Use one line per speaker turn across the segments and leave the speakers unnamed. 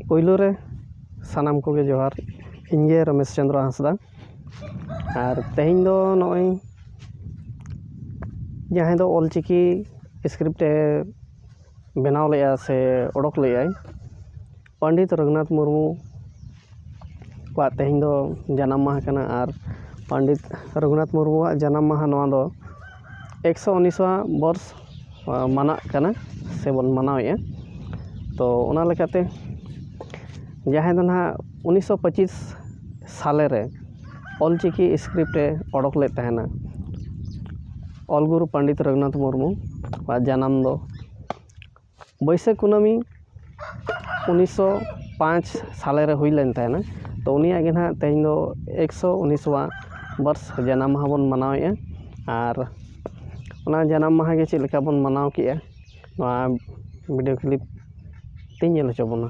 ᱯᱳᱭᱞᱳ ᱨᱮ ᱥᱟᱱᱟᱢ ᱠᱚᱜᱮ ᱡᱚᱦᱟᱨ ᱤᱧ ᱜᱮ ᱨᱚᱢᱮᱥ ᱪᱚᱱᱫᱨᱚ ᱦᱟᱸᱥᱫᱟ ᱟᱨ ᱛᱮᱦᱮᱧ ᱫᱚ ᱱᱚᱜᱼᱚᱭ ᱡᱟᱦᱟᱸᱭ ᱫᱚ ᱚᱞ ᱪᱤᱠᱤ ᱤᱥᱠᱨᱤᱯᱴ ᱮ ᱵᱮᱱᱟᱣ ᱞᱮᱜᱼᱟ ᱥᱮ ᱚᱰᱚᱠ ᱞᱮᱜᱼᱟᱭ ᱯᱚᱱᱰᱤᱛ ᱨᱚᱜᱷᱩᱱᱟᱛᱷ ᱢᱩᱨᱢᱩ ᱠᱚᱣᱟᱜ ᱛᱮᱦᱮᱧ ᱫᱚ ᱡᱟᱱᱟᱢ ᱢᱟᱦᱟ ᱠᱟᱱᱟ ᱟᱨ ᱯᱚᱱᱰᱤᱛ ᱨᱚᱜᱷᱩᱱᱟᱛᱷ ᱢᱩᱨᱢᱩᱣᱟᱜ ᱡᱟᱱᱟᱢ ᱢᱟᱦᱟ ᱱᱚᱣᱟ ᱫᱚ ᱮᱠᱥᱚ ᱩᱱᱤᱥᱣᱟ ᱵᱚᱨᱥ ᱢᱟᱱᱟᱜ ᱠᱟᱱᱟ ᱥᱮᱵᱚᱱ ᱢᱟᱱᱟᱣᱮᱜᱼᱟ ᱛᱚ ᱚᱱᱟ ᱞᱮᱠᱟᱛᱮ ᱡᱟᱦᱟᱸᱭ ᱫᱚ ᱱᱟᱦᱟᱜ ᱩᱱᱤᱥᱥᱚ ᱯᱚᱸᱪᱤᱥ ᱥᱟᱞᱮ ᱨᱮ ᱚᱞ ᱪᱤᱠᱤ ᱤᱥᱠᱨᱤᱯᱴ ᱮ ᱚᱰᱚᱠ ᱞᱮᱫ ᱛᱟᱦᱮᱱᱟ ᱚᱞ ᱜᱩᱨᱩ ᱯᱚᱱᱰᱤᱛ ᱨᱚᱜᱷᱩᱱᱟᱛᱷ ᱢᱩᱨᱢᱩᱣᱟᱜ ᱡᱟᱱᱟᱢ ᱫᱚ ᱵᱟᱹᱭᱥᱟᱹᱠᱷ ᱠᱩᱱᱟᱹᱢᱤ ᱩᱱᱤᱥᱥᱚ ᱯᱟᱸᱪ ᱥᱟᱞᱮᱨᱮ ᱦᱩᱭ ᱞᱮᱱ ᱛᱟᱦᱮᱱᱟ ᱛᱚ ᱩᱱᱤᱭᱟᱜ ᱜᱮ ᱱᱟᱦᱟᱜ ᱛᱮᱦᱮᱧ ᱫᱚ ᱮᱠᱥᱚ ᱩᱱᱤᱥᱣᱟ ᱵᱟᱨᱥ ᱡᱟᱱᱟᱢ ᱢᱟᱦᱟ ᱵᱚᱱ ᱢᱟᱱᱟᱣᱮᱜᱼᱟ ᱟᱨ ᱚᱱᱟ ᱡᱟᱱᱟᱢ ᱢᱟᱦᱟ ᱜᱮ ᱪᱮᱫ ᱞᱮᱠᱟ ᱵᱚᱱ ᱢᱟᱱᱟᱣ ᱠᱮᱜᱼᱟ ᱱᱚᱣᱟ ᱵᱷᱤᱰᱭᱳ ᱠᱞᱤᱯ ᱛᱤᱧ ᱧᱮᱞ ᱦᱚᱪᱚ ᱵᱚᱱᱟ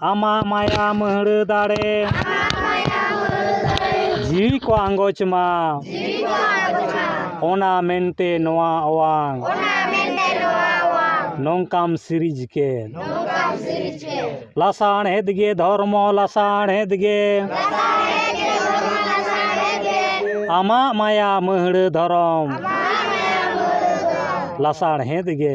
ᱟᱢᱟᱜ ᱢᱟᱭᱟ ᱢᱟᱹᱦᱲᱟᱹ ᱫᱟᱲᱮ ᱡᱤᱣᱤ ᱠᱚ ᱟᱸᱜᱚᱪ ᱢᱟ ᱚᱱᱟ ᱢᱮᱱᱛᱮ ᱱᱚᱣᱟ ᱚᱣᱟᱝ ᱱᱚᱝᱠᱟᱢ ᱥᱤᱨᱤᱡᱽ ᱠᱮᱫ ᱞᱟᱥᱟᱬᱦᱮᱫ ᱜᱮ ᱫᱷᱚᱨᱢᱚ ᱞᱟᱥᱟᱬᱦᱮᱫ ᱜᱮ ᱟᱢᱟᱜ ᱢᱟᱭᱟ ᱢᱟᱹᱦᱲᱟᱹ ᱫᱷᱚᱨᱚᱢ ᱞᱟᱥᱟᱬᱦᱮᱫ ᱜᱮ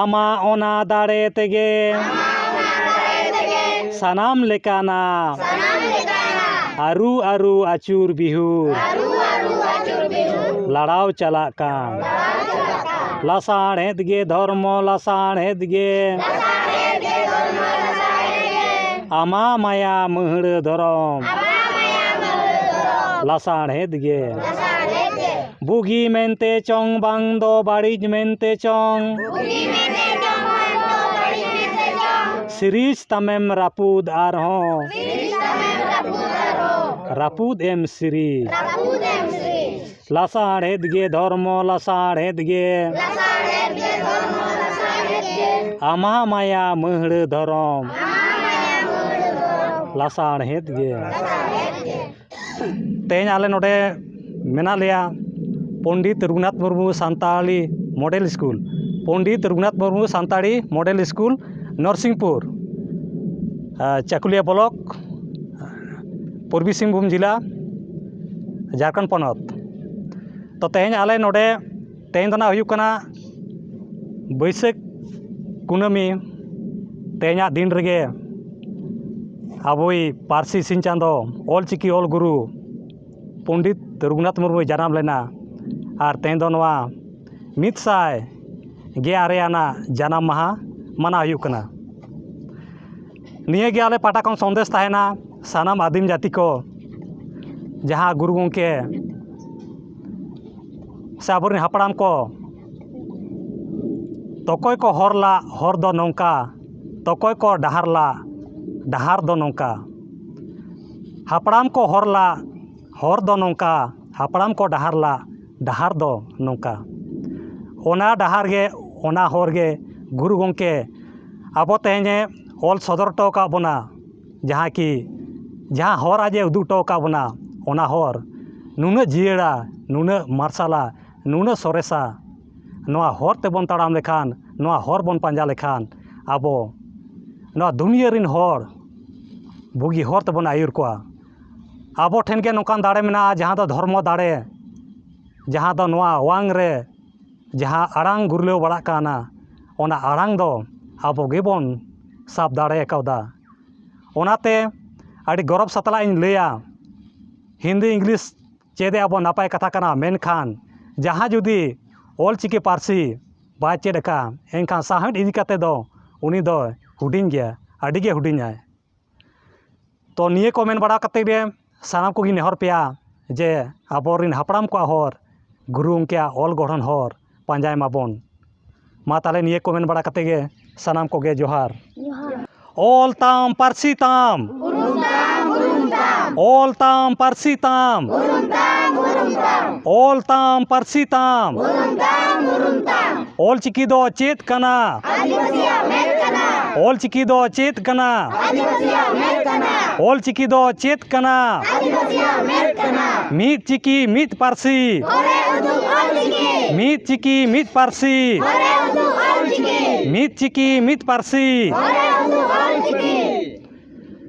ᱟᱢᱟᱜ ᱚᱱᱟ ᱫᱟᱲᱮ ᱛᱮᱜᱮ ᱥᱟᱱᱟᱢ ᱞᱮᱠᱟᱱᱟᱜ ᱟᱹᱨᱩ ᱟᱹᱨᱩ ᱟᱹᱪᱩᱨ ᱵᱤᱦᱩᱨ ᱞᱟᱲᱟᱣ ᱪᱟᱞᱟᱜ ᱠᱟᱱ ᱞᱟᱥᱟᱬᱦᱮᱫ ᱜᱮ ᱫᱷᱚᱨᱢᱚ ᱞᱟᱥᱟᱬᱦᱮᱫ ᱜᱮ ᱟᱢᱟᱜ ᱢᱟᱭᱟ ᱢᱟᱹᱦᱲᱟᱹ ᱫᱷᱚᱨᱚᱢ ᱞᱟᱥᱟᱬᱦᱮᱫ ᱜᱮ ᱵᱩᱜᱤ ᱢᱮᱱᱛᱮ ᱪᱚᱝ ᱵᱟᱝ ᱫᱚ ᱵᱟᱹᱲᱤᱡ ᱢᱮᱱᱛᱮ ᱪᱚᱝ ᱥᱤᱨᱤᱡᱽ ᱛᱟᱢᱮᱢ ᱨᱟᱹᱯᱩᱫ ᱟᱨᱦᱚᱸ ᱨᱟᱹᱯᱩᱫ ᱮᱢ ᱥᱤᱨᱤᱡᱽ ᱞᱟᱥᱟᱬᱦᱮᱫ ᱜᱮ ᱫᱷᱚᱨᱢᱚ ᱞᱟᱥᱟᱬᱦᱮᱫ ᱜᱮ ᱟᱢᱟᱜ ᱢᱟᱭᱟ ᱢᱟᱹᱦᱲᱟᱹ ᱫᱷᱚᱨᱚᱢ ᱞᱟᱥᱟᱬᱦᱮᱫ ᱜᱮ ᱛᱮᱦᱮᱧ ᱟᱞᱮ ᱱᱚᱰᱮ ᱢᱮᱱᱟᱜ ᱞᱮᱭᱟ Pandit Raghunath Murmu Santali model school Pandit Raghunath Murmu Santali model school Narsinghpur Chakulia block Purbi Singhbhum ᱡᱮᱞᱟ ᱡᱷᱟᱲᱠᱷᱚᱸᱰ ᱯᱚᱱᱚᱛ ᱛᱚ ᱛᱮᱦᱮᱧ ᱟᱞᱮ ᱱᱚᱰᱮ ᱛᱮᱦᱮᱧ ᱫᱚ ᱱᱟᱜ ᱦᱩᱭᱩᱜ ᱠᱟᱱᱟ ᱵᱟᱹᱭᱥᱟᱹᱠᱷ ᱠᱩᱱᱟᱹᱢᱤ ᱛᱮᱦᱮᱧᱟᱜ ᱫᱤᱱ ᱨᱮᱜᱮ ᱟᱵᱚᱭᱤᱡ ᱯᱟᱹᱨᱥᱤ ᱥᱤᱧ ᱪᱟᱸᱫᱚ ᱚᱞ ᱪᱤᱠᱤ ᱚᱞ ᱜᱩᱨᱩ ᱯᱚᱱᱰᱤᱛ ᱨᱚᱜᱷᱩᱱᱟᱛᱷ ᱢᱩᱨᱢᱩᱭ ᱡᱟᱱᱟᱢ ᱞᱮᱱᱟ ᱟᱨ ᱛᱮᱦᱮᱧ ᱫᱚ ᱱᱚᱣᱟ ᱢᱤᱫ ᱥᱟᱭ ᱜᱮ ᱟᱨᱮ ᱟᱱᱟᱜ ᱡᱟᱱᱟᱢ ᱢᱟᱦᱟ ᱢᱟᱱᱟᱣ ᱦᱩᱭᱩᱜ ᱠᱟᱱᱟ ᱱᱤᱭᱟᱹᱜᱮ ᱟᱞᱮ ᱯᱟᱦᱴᱟ ᱠᱷᱚᱱ ᱥᱟᱸᱫᱮᱥ ᱛᱟᱦᱮᱱᱟ ᱥᱟᱱᱟᱢ ᱟᱹᱫᱤᱢ ᱡᱟᱹᱛᱤ ᱠᱚ ᱡᱟᱦᱟᱸ ᱜᱩᱨᱩ ᱜᱚᱢᱠᱮ ᱥᱮ ᱟᱵᱚ ᱨᱮᱱ ᱦᱟᱯᱲᱟᱢ ᱠᱚ ᱚᱠᱚᱭ ᱠᱚ ᱦᱚᱨ ᱞᱟᱜ ᱦᱚᱨ ᱫᱚ ᱱᱚᱝᱠᱟ ᱚᱠᱚᱭ ᱠᱚ ᱰᱟᱦᱟᱨ ᱞᱟᱜ ᱰᱟᱦᱟᱨ ᱫᱚ ᱱᱚᱝᱠᱟ ᱦᱟᱯᱲᱟᱢ ᱠᱚ ᱦᱚᱨ ᱞᱟᱜ ᱦᱚᱨ ᱫᱚ ᱱᱚᱝᱠᱟ ᱦᱟᱯᱲᱟᱢ ᱠᱚ ᱰᱟᱦᱟᱨ ᱞᱟᱜ ᱰᱟᱦᱟᱨ ᱫᱚ ᱱᱚᱝᱠᱟ ᱚᱱᱟ ᱰᱟᱦᱟᱨ ᱜᱮ ᱚᱱᱟ ᱦᱚᱨ ᱜᱮ ᱜᱩᱨᱩ ᱜᱚᱢᱠᱮ ᱟᱵᱚ ᱛᱮᱦᱮᱧᱮ ᱚᱞ ᱥᱚᱫᱚᱨ ᱦᱚᱴᱚ ᱟᱠᱟᱫ ᱵᱚᱱᱟ ᱡᱟᱦᱟᱸ ᱠᱤ ᱡᱟᱦᱟᱸ ᱦᱚᱨ ᱟᱡ ᱮ ᱩᱫᱩᱜ ᱦᱚᱴᱚ ᱟᱠᱟᱫ ᱵᱚᱱᱟ ᱚᱱᱟ ᱦᱚᱨ ᱱᱩᱱᱟᱹᱜ ᱡᱤᱭᱟᱹᱲᱟ ᱱᱩᱱᱟᱹᱜ ᱢᱟᱨᱥᱟᱞᱟ ᱱᱩᱱᱟᱹᱜ ᱥᱚᱨᱮᱥᱟ ᱱᱚᱣᱟ ᱦᱚᱨ ᱛᱮᱵᱚᱱ ᱛᱟᱲᱟᱢ ᱞᱮᱠᱷᱟᱱ ᱱᱚᱣᱟ ᱦᱚᱨ ᱵᱚᱱ ᱯᱟᱸᱡᱟ ᱞᱮᱠᱷᱟᱱ ᱟᱵᱚ ᱱᱚᱣᱟ ᱫᱩᱱᱤᱭᱟᱹ ᱨᱮᱱ ᱦᱚᱲ ᱵᱩᱜᱤ ᱦᱚᱨ ᱛᱮᱵᱚᱱ ᱟᱹᱭᱩᱨ ᱠᱚᱣᱟ ᱟᱵᱚ ᱴᱷᱮᱱ ᱜᱮ ᱱᱚᱝᱠᱟᱱ ᱫᱟᱲᱮ ᱢᱮᱱᱟᱜᱼᱟ ᱡᱟᱦᱟᱸ ᱫᱚ ᱫᱷᱚᱨᱢᱚ ᱫᱟᱲᱮ ᱡᱟᱦᱟᱸ ᱫᱚ ᱱᱚᱣᱟ ᱚᱣᱟᱝ ᱨᱮ ᱡᱟᱦᱟᱸ ᱟᱲᱟᱝ ᱜᱩᱨᱞᱟᱹᱣ ᱵᱟᱲᱟᱜ ᱠᱟᱱᱟ ᱚᱱᱟ ᱟᱲᱟᱝ ᱫᱚ ᱟᱵᱚ ᱜᱮᱵᱚᱱ ᱥᱟᱵ ᱫᱟᱲᱮ ᱠᱟᱣᱫᱟ ᱚᱱᱟᱛᱮ ᱟᱹᱰᱤ ᱜᱚᱨᱚᱵᱽ ᱥᱟᱛᱞᱟᱜ ᱤᱧ ᱞᱟᱹᱭᱟ ᱦᱤᱱᱫᱤ ᱤᱝᱞᱤᱥ ᱪᱮᱫ ᱟᱵᱚ ᱱᱟᱯᱟᱭ ᱠᱟᱛᱷᱟ ᱠᱟᱱᱟ ᱢᱮᱱᱠᱷᱟᱱ ᱡᱟᱦᱟᱸᱭ ᱡᱩᱫᱤ ᱚᱞ ᱪᱤᱠᱤ ᱯᱟᱹᱨᱥᱤ ᱵᱟᱭ ᱪᱮᱫ ᱟᱠᱟᱫᱼᱟ ᱮᱱᱠᱷᱟᱱ ᱥᱟᱶᱦᱮᱫ ᱤᱫᱤ ᱠᱟᱛᱮᱫ ᱫᱚ ᱩᱱᱤ ᱫᱚᱭ ᱦᱩᱰᱤᱧ ᱜᱮᱭᱟ ᱟᱹᱰᱤᱜᱮ ᱦᱩᱰᱤᱧᱟᱭ ᱛᱚ ᱱᱤᱭᱟᱹ ᱠᱚ ᱢᱮᱱ ᱵᱟᱲᱟ ᱠᱟᱛᱮ ᱜᱮ ᱥᱟᱱᱟᱢ ᱠᱚᱜᱮᱧ ᱱᱮᱦᱚᱨ ᱯᱮᱭᱟ ᱡᱮ ᱟᱵᱚ ᱨᱮᱱ ᱦᱟᱯᱲᱟᱢ ᱠᱚᱣᱟᱜ ᱦᱚᱨ ᱜᱩᱨᱩ ᱜᱚᱢᱠᱮᱭᱟᱜ ᱚᱞ ᱜᱚᱲᱦᱚᱱ ᱦᱚᱨ ᱯᱟᱸᱡᱟᱭ ᱢᱟᱵᱚᱱ ᱢᱟ ᱛᱟᱦᱚᱞᱮ ᱱᱤᱭᱟᱹ ᱠᱚ ᱢᱮᱱ ᱵᱟᱲᱟ ᱠᱟᱛᱮ ᱜᱮ ᱥᱟᱱᱟᱢ ᱠᱚᱜᱮ ᱡᱚᱦᱟᱨ ᱚᱞ ᱛᱟᱢ ᱯᱟᱹᱨᱥᱤ ᱛᱟᱢ ᱚᱞ ᱛᱟᱢ ᱯᱟᱹᱨᱥᱤ ᱛᱟᱢ ᱚᱞ ᱛᱟᱢ ᱯᱟᱹᱨᱥᱤ ᱛᱟᱢ ᱚᱞᱪᱤᱠᱤ ᱫᱚ ᱪᱮᱫ ᱠᱟᱱᱟ ᱚᱞᱪᱤᱠᱤ ᱫᱚ ᱪᱮᱫ ᱠᱟᱱᱟ ᱚᱞᱪᱤᱠᱤ ᱫᱚ ᱪᱮᱫ ᱠᱟᱱᱟ ᱢᱤᱫ ᱪᱤᱠᱤ ᱢᱤᱫ ᱯᱟᱹᱨᱥᱤ ᱢᱤᱫ ᱪᱤᱠᱤ ᱢᱤᱫ ᱯᱟᱹᱨᱥᱤ ᱢᱤᱫ ᱪᱤᱠᱤ ᱢᱤᱫ ᱯᱟᱹᱨᱥᱤ